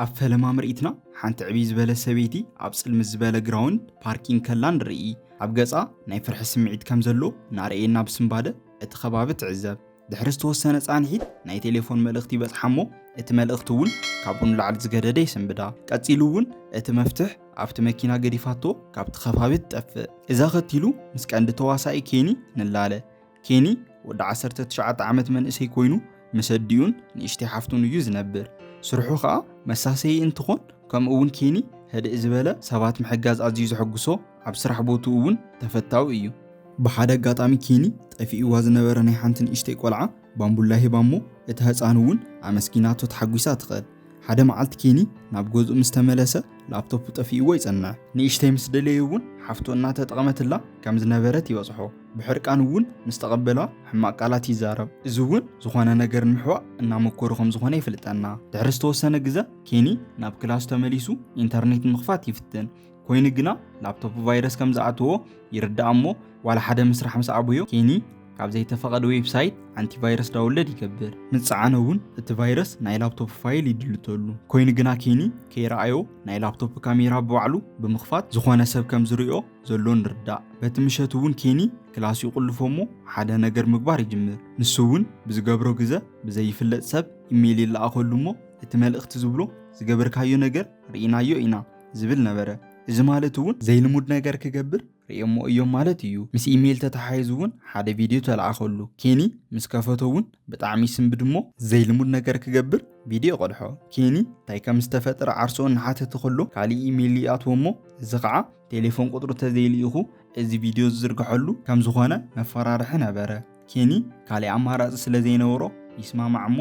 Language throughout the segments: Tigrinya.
ኣብ ፈለማ ምርኢትና ሓንቲ ዕብይ ዝበለ ሰበይቲ ኣብ ጽልምት ዝበለ ግራውንድ ፓርኪንግ ከላ ንርኢ። ኣብ ገጻ ናይ ፍርሒ ስምዒት ከም ዘሎ እናርኣየና ብስንባደ እቲ ከባቢ ትዕዘብ። ድሕሪ ዝተወሰነ ጻንሒት ናይ ቴሌፎን መልእኽቲ ይበጽሓ እሞ እቲ መልእኽቲ እውን ካብኡ ንላዕሊ ዝገደደ ይስንብዳ። ቀጺሉ እውን እቲ መፍትሕ ኣብቲ መኪና ገዲፋቶ ካብቲ ከባቢ ትጠፍእ። እዚ ኣኸቲሉ ምስ ቀንዲ ተዋሳኢ ኬኒ ንላለ። ኬኒ ወዲ ዓሰርተ ትሽዓተ ዓመት መንእሰይ ኮይኑ ምስ ኣዲኡን ንእሽተይ ሓፍቱን እዩ ዝነብር። ስርሑ ከኣ መሳሰዪ እንትኾን ከምኡ እውን ኬኒ ህድእ ዝበለ ሰባት ምሕጋዝ ኣዝዩ ዘሐጉሶ ኣብ ስራሕ ቦትኡ እውን ተፈታዊ እዩ። ብሓደ ኣጋጣሚ ኬኒ ጠፊእዋ ዝነበረ ናይ ሓንቲ ንእሽተይ ቆልዓ ባምቡላ ሂባ እሞ እታ ህጻን እውን ኣመስጊናቶ ተሓጒሳ ትኸድ። ሓደ መዓልቲ ኬኒ ናብ ገዝኡ ምስ ተመለሰ ላፕቶፑ ጠፊእዎ ይጸንሕ። ንእሽተይ ምስ ደለየ እውን ሓፍቱ እናተጠቐመትላ ከም ዝነበረት ይበጽሖ። ብሕርቃን እውን ምስ ተቐበላ ሕማቕ ቃላት ይዛረብ። እዚ እውን ዝኾነ ነገር ንምሕዋእ እናመኮሩ ከም ዝኾነ የፍልጠና። ድሕሪ ዝተወሰነ ግዘ ኬኒ ናብ ክላሱ ተመሊሱ ኢንተርኔት ንምኽፋት ይፍትን። ኮይኑ ግና ላፕቶፕ ቫይረስ ከም ዝኣተዎ ይርዳእ እሞ ዋላ ሓደ ምስራሕ ምስ ኣበዮ ኬኒ ካብ ዘይተፈቐደ ዌብሳይት ኣንቲቫይረስ ዳውንለድ ይገብር። ምስ ጸዓነ እውን እቲ ቫይረስ ናይ ላፕቶፕ ፋይል ይድልተሉ። ኮይኑ ግና ኬኒ ከይረኣዮ ናይ ላፕቶፕ ካሜራ ብባዕሉ ብምኽፋት ዝኾነ ሰብ ከም ዝርእዮ ዘሎ ንርዳእ። በቲ ምሸት እውን ኬኒ ክላሱ ይቑልፎ እሞ ሓደ ነገር ምግባር ይጅምር። ንሱ እውን ብዝገብሮ ግዘ ብዘይፍለጥ ሰብ ኢሜይል ይለኣኸሉ እሞ እቲ መልእኽቲ ዝብሎ ዝገበርካዮ ነገር ርኢናዮ ኢና፣ ዝብል ነበረ። እዚ ማለት እውን ዘይልሙድ ነገር ክገብር ርእዮሞ እዮም ማለት እዩ። ምስ ኢሜይል ተተሓሒዙ እውን ሓደ ቪድዮ ተለኣኸሉ። ኬኒ ምስ ከፈቶ እውን ብጣዕሚ ይስንብድ እሞ ዘይልሙድ ነገር ክገብር ቪድዮ ይቐድሖ። ኬኒ እንታይ ከም ዝተፈጠረ ዓርሱ እናሓተተ ከሎ ካሊእ ኢሜይል ይኣትዎ እሞ እዚ ከዓ ቴሌፎን ቁፅሩ ተዘይልኢኹ እዚ ቪድዮ ዝዝርግሐሉ ከም ዝኾነ መፈራርሒ ነበረ። ኬኒ ካልእ ኣማራጺ ስለ ዘይነበሮ ይስማማዕ እሞ፣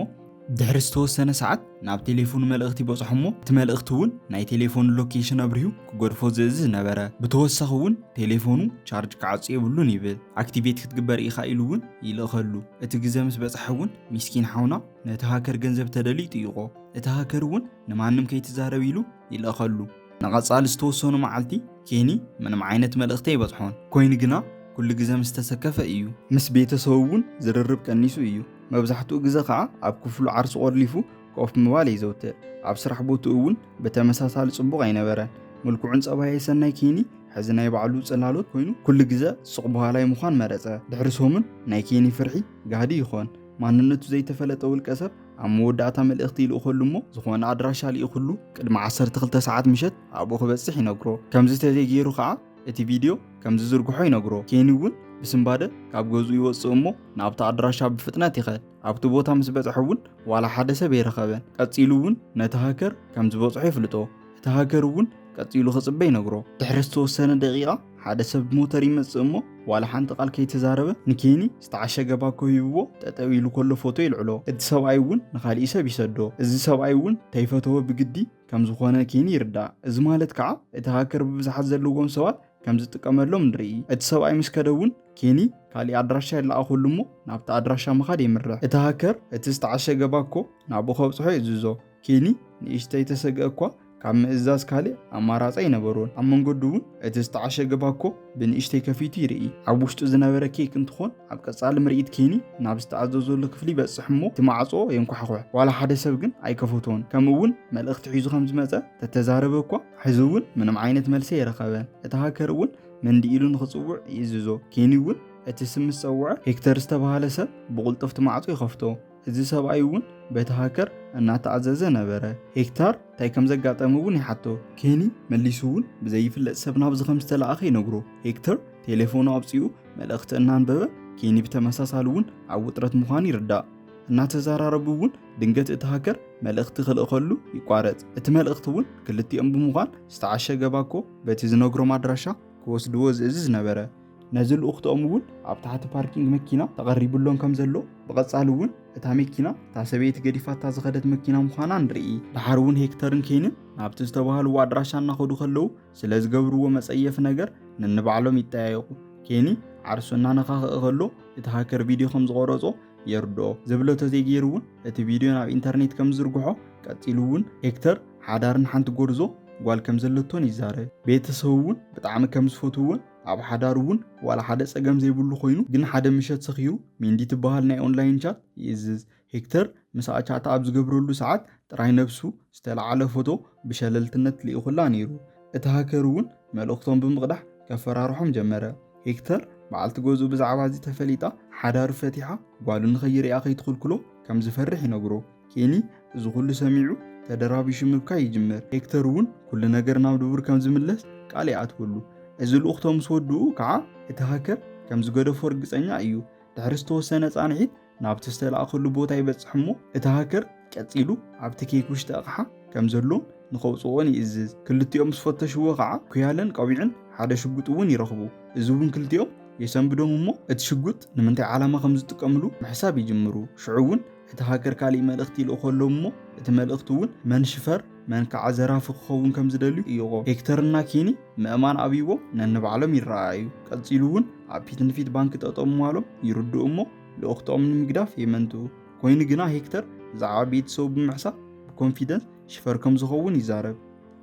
ድሕሪ ዝተወሰነ ሰዓት ናብ ቴሌፎኑ መልእኽቲ በጽሖ እሞ፣ እቲ መልእኽቲ እውን ናይ ቴሌፎኑ ሎኬሽን ኣብሪሁ ክገድፎ ዝእዝዝ ነበረ። ብተወሳኺ እውን ቴሌፎኑ ቻርጅ ክዓጹ የብሉን ይብል፣ ኣክቲቬት ክትግበር ኢኻ ኢሉ እውን ይልእኸሉ። እቲ ግዘ ምስ በጽሐ እውን ሚስኪን ሓውና ነቲ ሃከር ገንዘብ ተደልዩ ይጥይቖ፣ እቲ ሃከር እውን ንማንም ከይትዛረብ ኢሉ ይልእኸሉ። ንቐጻሊ ዝተወሰኑ መዓልቲ ኬኒ ምንም ዓይነት መልእኽቲ ኣይበጽሖን፣ ኰይኑ ግና ኵሉ ግዘ ምስ ተሰከፈ እዩ። ምስ ቤተሰቡ እውን ዝርርብ ቀኒሱ እዩ፣ መብዛሕትኡ ግዘ ኸኣ ኣብ ክፍሉ ዓርሱ ቆሊፉ ኮፍ ምባል የዘውትር። ኣብ ስራሕ ቦትኡ እውን ብተመሳሳሊ ጽቡቕ ኣይነበረን። ምልኩዕን ጸባየ ሰናይ ኬኒ ሕዚ ናይ ባዕሉ ጽላሎት ኰይኑ ኵሉ ግዘ ሱቕ በሃላይ ምዃን መረጸ። ድሕሪ ሰሙን ናይ ኬኒ ፍርሒ ጋህዲ ይዀን። ማንነቱ ዘይተፈለጠ ውልቀሰብ ኣብ መወዳእታ መልእኽቲ ይልእኸሉ እሞ ዝኾነ ኣድራሻ ልኢኹሉ ቅድሚ 12 ሰዓት ምሸት ኣብኡ ክበጽሕ ይነግሮ። ከምዚ ተዘይገይሩ ከዓ እቲ ቪድዮ ከም ዝዝርግሖ ይነግሮ። ኬኒ እውን ብስንባደ ካብ ገዝኡ ይወጽእ እሞ ናብቲ ኣድራሻ ብፍጥነት ይኸድ። ኣብቲ ቦታ ምስ በጽሐ እውን ዋላ ሓደ ሰብ ኣይረኸበን። ቀጺሉ እውን ነቲ ሃከር ከም ዝበጽሖ የፍልጦ። እቲ ሃከር እውን ቀጺሉ ክጽበ ይነግሮ። ድሕሪ ዝተወሰነ ደቂቓ ሓደ ሰብ ብሞተር ይመጽእ እሞ ዋላ ሓንቲ ቃል ከይተዛረበ ንኬኒ ዝተዓሸገ ባኮ ሂብዎ ጠጠው ኢሉ ከሎ ፎቶ ይልዕሎ እቲ ሰብኣይ እውን ንካሊእ ሰብ ይሰዶ እዚ ሰብኣይ እውን ተይፈተወ ብግዲ ከም ዝኾነ ኬኒ ይርዳእ እዚ ማለት ከዓ እቲ ሃከር ብብዝሓት ዘለዎም ሰባት ከም ዝጥቀመሎም ንርኢ እቲ ሰብኣይ ምስ ከደ እውን ኬኒ ካሊእ ኣድራሻ የለኣኸሉ እሞ ናብቲ ኣድራሻ ምኻድ የምርሕ እቲ ሃከር እቲ ዝተዓሸገ ባኮ ናብኡ ከብፅሖ የእዝዞ ኬኒ ንእሽተይ ተሰግእ እኳ ካብ ምእዛዝ ካልእ ኣማራጺ ኣይነበሮን። ኣብ መንገዱ እውን እቲ ዝተዓሸገ ባኮ ብንእሽተይ ከፊቱ ይርኢ። ኣብ ውሽጡ ዝነበረ ኬክ እንትኾን ኣብ ቀጻሊ ምርኢት ኬኒ ናብ ዝተኣዘዘሉ ክፍሊ ይበጽሕ እሞ እቲ ማዕጾ የንኳሕዂሕ። ዋላ ሓደ ሰብ ግን ኣይከፈቶን። ከምኡ እውን መልእኽቲ ሒዙ ከም ዝመጸ ተተዛረበ እኳ ሕዚ እውን ምንም ዓይነት መልሲ ኣይረኸበን። እቲ ሃከር እውን መንዲ ኢሉ ንኽጽውዕ ይእዝዞ። ኬኒ እውን እቲ ስም ምስ ጸውዐ ሄክተር ዝተበሃለ ሰብ ብቕልጡፍ እቲ ማዕጾ ይኸፍቶ። እዚ ሰብኣይ እውን በቲ ሃከር እናተኣዘዘ ነበረ። ሄክታር እንታይ ከም ዘጋጠመ እውን ይሓቶ። ኬኒ መሊሱ እውን ብዘይፍለጥ ሰብ ናብዚ ከም ዝተለኣኸ ይነግሮ። ሄክተር ቴሌፎኑ ኣውጺኡ መልእኽቲ እናንበበ፣ ኬኒ ብተመሳሳሊ እውን ኣብ ውጥረት ምዃኑ ይርዳእ። እናተዘራረቡ እውን ድንገት እቲ ሃከር መልእኽቲ ክልእኸሉ ይቋረጽ። እቲ መልእኽቲ እውን ክልቲኦም ብምዃን ዝተዓሸገ ባኮ በቲ ዝነግሮም ኣድራሻ ክወስድዎ ዝእዝዝ ነበረ። ነዚ ልኡኽተኦም እውን ኣብ ታሕቲ ፓርኪንግ መኪና ተቐሪብሎም ከም ዘሎ ብቐጻሊ እውን እታ መኪና እታ ሰበይቲ ገዲፋታ ዝኸደት መኪና ምዃና ንርኢ። ድሓር እውን ሄክተርን ኬንን ናብቲ ዝተባህልዎ ኣድራሻ እናኸዱ ከለዉ ስለ ዝገብርዎ መጸየፊ ነገር ነንባዕሎም ይጠያየቑ። ኬኒ ዓርሱ እናነኻኸ ከሎ እቲ ሃከር ቪድዮ ከም ዝቐረጾ የርድኦ። ዝብሎ ተዘይገይሩ እውን እቲ ቪድዮ ናብ ኢንተርኔት ከም ዝዝርግሖ ቀጺሉ እውን ሄክተር ሓዳርን ሓንቲ ጎርዞ ጓል ከም ዘለቶን ይዛረብ። ቤተሰቡ እውን ብጣዕሚ ከም ዝፈትውዎን ኣብ ሓዳሩ እውን ዋላ ሓደ ጸገም ዘይብሉ ኮይኑ ግን ሓደ ምሸት ሰኺሩ ሜንዲ ትበሃል ናይ ኦንላይን ቻት ይእዝዝ። ሄክተር ምስኣ ቻት ኣብ ዝገብረሉ ሰዓት ጥራይ ነብሱ ዝተለዓለ ፎቶ ብሸለልትነት ልኢኹላ ነይሩ። እቲ ሃከር እውን መልእኽቶም ብምቕዳሕ ከፈራርሖም ጀመረ። ሄክተር በዓልቲ ገዝኡ ብዛዕባ እዚ ተፈሊጣ ሓዳሩ ፈቲሓ ጓሉ ንኸይርእያ ከይትኽልክሎ ከም ዝፈርሕ ይነግሮ። ኬኒ እዚ ኩሉ ሰሚዑ ተደራቢሹ ምብካይ ይጅምር። ሄክተር እውን ኩሉ ነገር ናብ ድቡር ከም ዝምለስ ቃል ይኣትወሉ። እዚ ልኡኽቶ ምስ ወድኡ ከዓ እቲ ሃከር ከም ዝገደፎ ርግፀኛ እዩ። ድሕሪ ዝተወሰነ ፃንሒት ናብቲ ዝተላእከሉ ቦታ ይበፅሕ እሞ እቲ ሃከር ቀፂሉ ኣብቲ ኬክ ውሽጢ ኣቕሓ ከም ዘሎን ንኸውፅኦን ይእዝዝ። ክልቲኦም ምስ ፈተሽዎ ከዓ ኩያለን ቆቢዕን ሓደ ሽጉጥ እውን ይረኽቡ። እዚ እውን ክልቲኦም የሰንብዶም እሞ እቲ ሽጉጥ ንምንታይ ዓላማ ከም ዝጥቀምሉ ምሕሳብ ይጅምሩ። ሽዑ እውን እቲ ሃከር ካሊእ መልእኽቲ ይልእኾሎም እሞ እቲ መልእኽቲ እውን መን ሽፈር መን ከዓ ዘራፊ ክኸውን ከም ዝደልዩ እዩኾ። ሄክተር እና ኬኒ ምእማን ኣብይዎም ነንባዕሎም ይረኣኣዩ። ቀፂሉ እውን ኣብ ፊት ንፊት ባንኪ ጠጠው ምባሎም ይርድኡ እሞ ልኡኽቶኦም ንምግዳፍ የመንትው። ኮይኑ ግና ሄክተር ብዛዕባ ቤተሰቡ ብምሕሳብ ብኮንፊደንስ ሽፈር ከም ዝኸውን ይዛረብ።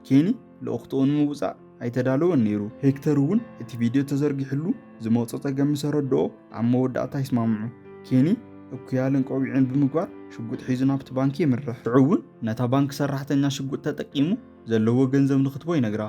ኬኒ ልኡኽትኡ ንምውጻእ ኣይተዳለወን ነይሩ። ሄክተር እውን እቲ ቪድዮ ተዘርጊሑሉ ዝመጾ ጸገም ምስ ኣረድኦ ኣብ መወዳእታ ይስማምዑ። ኬኒ እኩያልን ቆቢዕን ብምግባር ሽጉጥ ሒዙ ናብቲ ባንኪ የምርሕ። ሽዑ እውን ነታ ባንኪ ሰራሕተኛ ሽጉጥ ተጠቂሙ ዘለዎ ገንዘብ ንኽትቦ ይነግራ።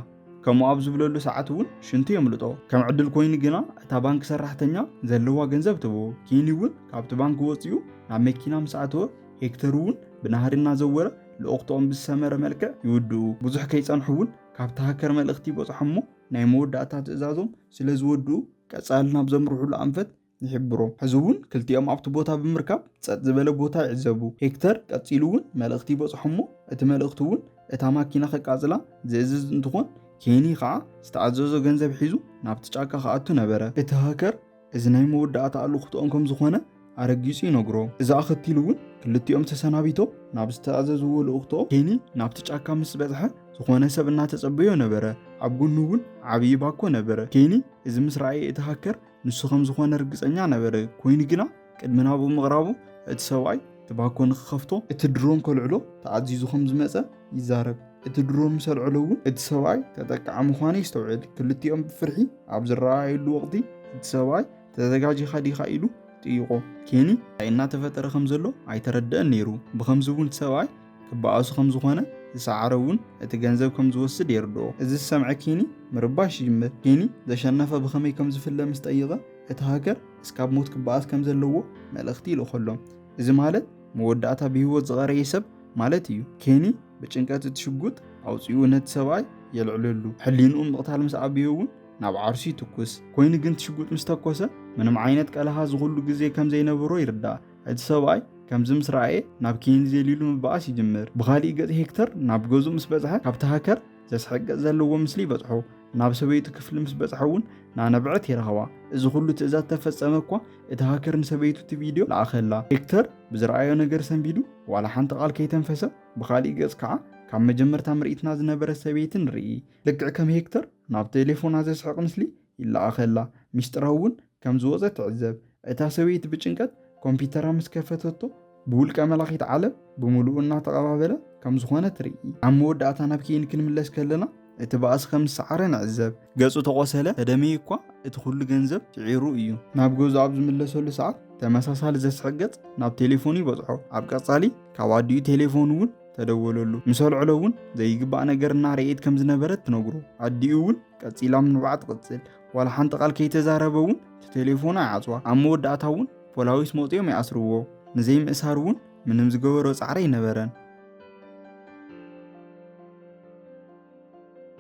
ከምኡ ኣብ ዝብለሉ ሰዓት እውን ሽንቲ የምልጦ። ከም ዕድል ኮይኑ ግና እታ ባንኪ ሰራሕተኛ ዘለዋ ገንዘብ ትህቦ። ኬኒ እውን ካብቲ ባንኪ ወጺኡ ናብ መኪና ምስ ኣተወ ሄክተር እውን ብናህሪ እናዘወረ ልኡኽቶኦም ብዝሰመረ መልክዕ ይውድኡ። ብዙሕ ከይጸንሑ እውን ካብቲ ሃከር መልእኽቲ ይበጽሖም እሞ ናይ መወዳእታ ትእዛዞም ስለ ዝወድኡ ቀጻሊ ናብ ዘምርሑሉ ኣንፈት ይሕብሮ። ሕዚ እውን ክልቲኦም ኣብቲ ቦታ ብምርካብ ጸጥ ዝበለ ቦታ ይዕዘቡ። ሄክተር ቀጺሉ እውን መልእኽቲ ይበጽሖም እሞ እቲ መልእኽቲ እውን እታ ማኪና ከቃጽላ ዝእዝዝ እንትኾን ኬኒ ኸዓ ዝተኣዘዞ ገንዘብ ሒዙ ናብቲ ጫካ ክኣቱ ነበረ። እቲ ሃከር እዚ ናይ መወዳእታ ኣልኹትኦም ከም ዝኾነ ኣረጊጹ ይነግሮ። እዚ ኣኸቲሉ እውን ክልቲኦም ተሰናቢቶም ናብ ዝተኣዘዝዎ ልእኹቶ ኬኒ ናብቲ ጫካ ምስ በጽሐ ዝኾነ ሰብ እናተጸበዮ ነበረ። ኣብ ጎኑ እውን ዓብዪ ባኮ ነበረ። ኬኒ እዚ ምስ ረኣየ እቲ ሃከር ንሱ ከም ዝኾነ ርግጸኛ ነበረ። ኮይኑ ግና ቅድሚ ናብኡ ምቕራቡ እቲ ሰብኣይ እቲ ባኮ ንክኸፍቶ እቲ ድሮን ከልዕሎ ተኣዚዙ ከም ዝመጸ ይዛረብ። እቲ ድሮን ምስ ኣልዐሎ እውን እቲ ሰብኣይ ተጠቃዒ ምዃኑ የስተውዕል። ክልቲኦም ብፍርሒ ኣብ ዝረኣዩሉ ወቕቲ እቲ ሰብኣይ ተዘጋጂኻ ዲኻ ኢሉ ጥይቖ። ኬኒ እንታይ እናተፈጠረ ከም ዘሎ ኣይተረደኣን ነይሩ፣ ብኸምዚ እውን እቲ ሰብኣይ ክበኣሱ ከም ዝዀነ ዝሰዓረ እውን እቲ ገንዘብ ከም ዝወስድ የርድኦ። እዚ ዝሰምዐ ኬኒ ምርባሽ ይጅምር። ኬኒ ዘሸነፈ ብኸመይ ከም ዝፍለ ምስ ጠይቐ እቲ ሃከር እስካብ ሞት ክበኣስ ከም ዘለዎ መልእኽቲ ይልእኸሎም። እዚ ማለት መወዳእታ ብህይወት ዝቐረየ ሰብ ማለት እዩ። ኬኒ ብጭንቀት እቲ ሽጉጥ ኣውጺኡ ነቲ ሰብኣይ የልዕለሉ። ሕሊንኡ ምቕታል ምስ ኣቢዮ እውን ናብ ዓርሱ ይትኩስ። ኮይኑ ግን እቲ ሽጉጥ ምስ ተኮሰ ምንም ዓይነት ቀልሃ ዝኹሉ ግዜ ከም ዘይነበሮ ይርዳእ። እቲ ሰብኣይ ከምዚ ምስ ረኣየ ናብ ኬኒ ዘሊሉ ምብኣስ ይጅምር። ብኻሊእ ገጽ ሄክተር ናብ ገዝኡ ምስ በጽሐ ካብቲ ሃከር ዘስሕቅቕ ዘለዎ ምስሊ ይበጽሖ። ናብ ሰበይቱ ክፍሊ ምስ በጽሐ እውን ናነብዐት ይረኽባ። እዚ ኩሉ ትእዛዝ ተፈጸመ እኳ እቲ ሃከር ንሰበይቱ እቲ ቪድዮ ለኣኸላ። ሄክተር ብዝረኣዮ ነገር ሰንቢዱ ዋላ ሓንቲ ቃል ከይተንፈሰ ብኻሊእ ገጽ ከዓ ካብ መጀመርታ ምርኢትና ዝነበረት ሰበይቲ ንርኢ። ልክዕ ከም ሄክተር ናብ ቴሌፎና ዘስሕቕ ምስሊ ይለኣኸላ። ሚስጥራዊ እውን ከም ዝወጸ ትዕዘብ። እታ ሰበይቲ ብጭንቀት ኮምፒተራ ምስ ከፈተቶ ብውልቀ መላኺት ዓለም ብምሉኡ እናተቐባበለ ከም ዝኾነ ትርኢ። ኣብ መወዳእታ ናብ ኬይን ክንምለስ ከለና እቲ ባእሲ ከም ዝሰዓረ ንዕዘብ። ገጹ ተቖሰለ፣ ተደመዩ እኳ እቲ ኩሉ ገንዘብ ስዒሩ እዩ። ናብ ገዝኡ ኣብ ዝምለሰሉ ሰዓት ተመሳሳሊ ዘስሕቕ ገጽ ናብ ቴሌፎኑ ይበጽሖ። ኣብ ቀጻሊ ካብ ኣዲኡ ቴሌፎን እውን ተደወለሉ። ምስ ኣልዕሎ እውን ዘይግባእ ነገር እናርኣየት ከም ዝነበረት ትነግሮ። ኣዲኡ እውን ቀጺላ ምንባዓ ትቕጽል። ዋላ ሓንቲ ቃል ከይተዛረበ እውን እቲ ቴሌፎን ኣይዓፅዋ ኣብ መወዳእታ እውን ፖላዊስ መውፅኦም ይኣስርዎ ንዘይምእሳር እውን ምንም ዝገበሮ ፃዕሪ ኣይነበረን